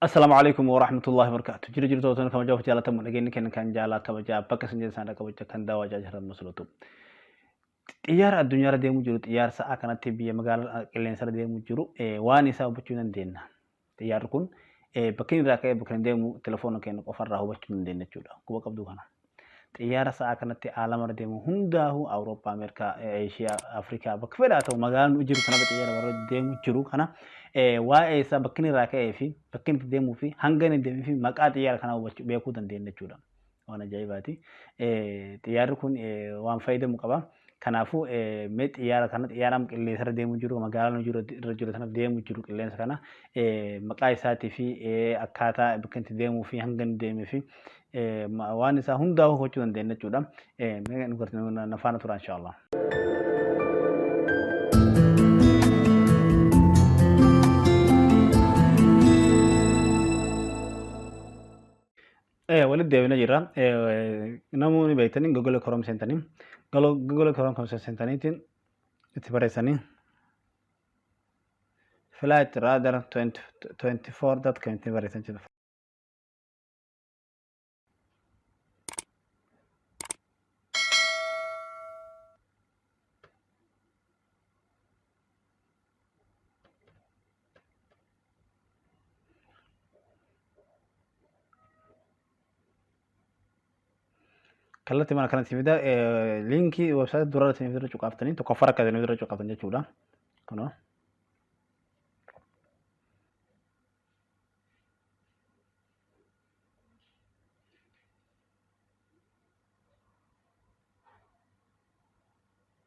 Assalaamu alaikum wa rahmatullahi wa barakaatu. Jira jirtu otoo kama jawaaf jaalatamu dhageenyi kenna kan jaalaa kabajaa bakka isin jirtan sana kabaja kan daawaa jaajiran musulatu. Xiyyaara addunyaarra deemu jiru xiyyaara sa'aa kanatti biyya magaalaa qilleensa irra deemu jiru waan isaa hubachuu dandeenya. Xiyyaarri kun bakka inni irraa ka'ee bakka inni deemu telefoona keenya qofarraa hubachuu hin dandeenye jechuudha. Quba qabduu kana. Xiyyaara sa'aa kanatti aalamarra deemu hundaahuu Awurooppaa, Ameerikaa, Eeshiyaa, Afrikaa bakka fedhaa ta'u magaalaa nu jiru sanarra xiyyaara warra deemu jiru kana waa'ee isaa bakka inni irraa ka'ee fi bakka inni itti deemuu fi hanga inni deemee fi maqaa xiyyaara kanaa hubachuu beekuu dandeenya jechuudha. Waan ajaa'ibaati. Xiyyaarri kun waan fayyadamu qaba. Kanaafuu mee xiyyaara kana xiyyaaraan qilleensa irra deemu jiru magaalaa nu jiru irra jiru sana deemu jiru qilleensa kana maqaa isaatii fi akkaataa bakka itti deemuu fi hanga inni deemee fi waan isaa hundaa hubachuu dandeenya jechuudha. Mee nu gartanii na faana turaa inshaallah. Eh, walitti deebina jirra. Eh, namoonni beektanii Google Chrome seentanii Galo- Google Chrome kan seentaniitiin itti barreessanii Flight Radar 20 24.com itti barreessan jechuudha. kallattii mana kanatti fida liinkii websaayitii dura irratti irra cuqaaftanii tokkoffaa akka isin irra cuqaaftan jechuudha. Kunoo.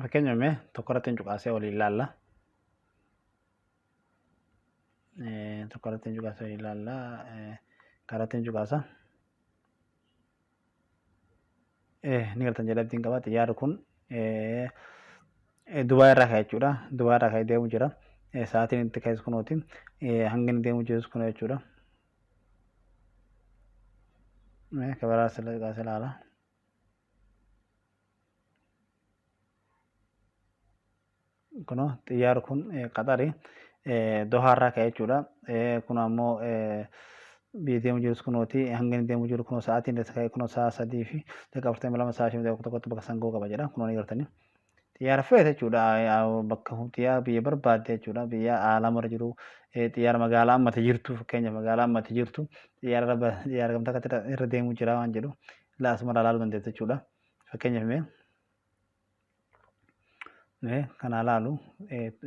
Fakkeenya mee tokko irratti hin cuqaasee waliin ilaalla. Tokko irratti hin cuqaasee waliin ilaalla. Karatti hin cuqaasa. Ni galtan jedhee abdiin qaba. Xiyyaarri kun Dubaay irraa ka'e jechuudha. Dubaay irraa ka'e deemu jira. Sa'aatiin itti ka'es kunooti. Hangi inni deemu jirus kun jechuudha. Mee kabaraa sila xiqaa si ilaala. Kuno xiyyaar kun qaxari dohaa irraa ka'e jechuudha. Kun ammoo biyya deemu jirus kunooti hanga inni deemu jiru kunoo sa'aatiin isa ka'e kunoo sa'a sadii fi daqiiqaa afurtamii lama sa'a shan daqiiqaa tokkotti bakka san ga'uu qaba jedha kunoo ni gartanii. xiyyaara feete jechuudha bakka xiyyaara biyya barbaadde jechuudha biyya aalamarra jiru xiyyaara magaalaa ammati jirtu fakkeenya magaalaa ammati jirtu xiyyaara xiyyaara gamtaa akkatti irra deemu jira waan jedhu ilaa asumarraa ilaaluu dandeessa jechuudha fakkeenyaaf mee mee kanaa ilaalu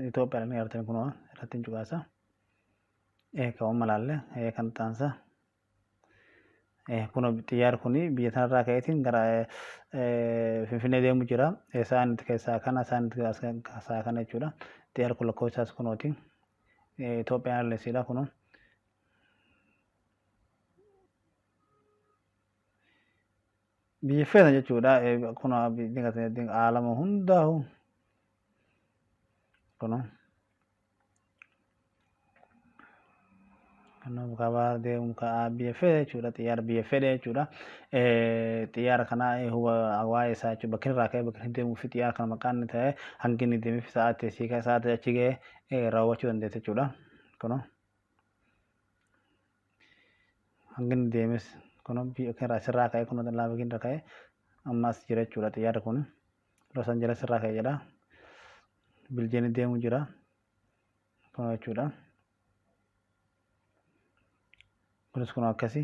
Itoophiyaa ni argatan kunoo irratti hin cuqaasa ee ka'umma ilaalle kan taansa. Kun xiyyaarri kun biyya sanarraa ka'eetiin gara Finfinnee deemu jira. Isaan itti keessaa kana isaan itti keessaa kana jechuudha. Xiyyaarri kun lakkoofsi isaas kunooti. Itoophiyaan Airlines dha kunoo. Biyyi feetan jechuudha. Kun haalama hundaa'u kunoo. Nuuf qabaa deemu ka biyya fedhe jechuudha xiyyaara biyya fedhe jechuudha xiyyaara kana huba waa'ee isaa jechuudha bakki irraa ka'ee bakki deemuu fi xiyyaara kana maqaan inni ta'e hangi inni deemee fi sa'aatii asii ka'e sa'aatii achi ga'e raawwachuu dandeessa jechuudha kuno hangi inni deemes kuno biyya irraa asirraa ka'e kuno laafa irra ka'e amma as jira jechuudha xiyyaarri kun. Los Angeles irraa ka'e jedha. Biljeen deemu jira. Kun jechuudha. Kunis kun akkasi.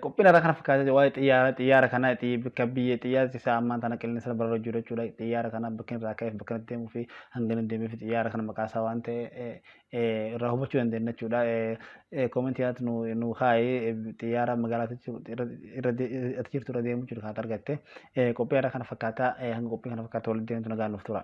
Qophiin irraa kana fakkaatee waa'ee xiyyaara xiyyaara kana bakka biyya xiyyaarri isaa ammaan tana qilleensa irra barra jiru jechuudha. Xiyyaara kana bakka irraa ka'eef bakka deemuu fi hanga inni deemee fi xiyyaara kana maqaa isaa waan ta'e irraa hubachuu dandeenya jechuudha. Koomentii irratti nu nu kaa'i xiyyaara magaalaa ati jirtu irra deemu jiru kan argatte qophii irra kana fakkaata hanga qophii kana fakkaatu walitti deemtu nagaan nuuf tura.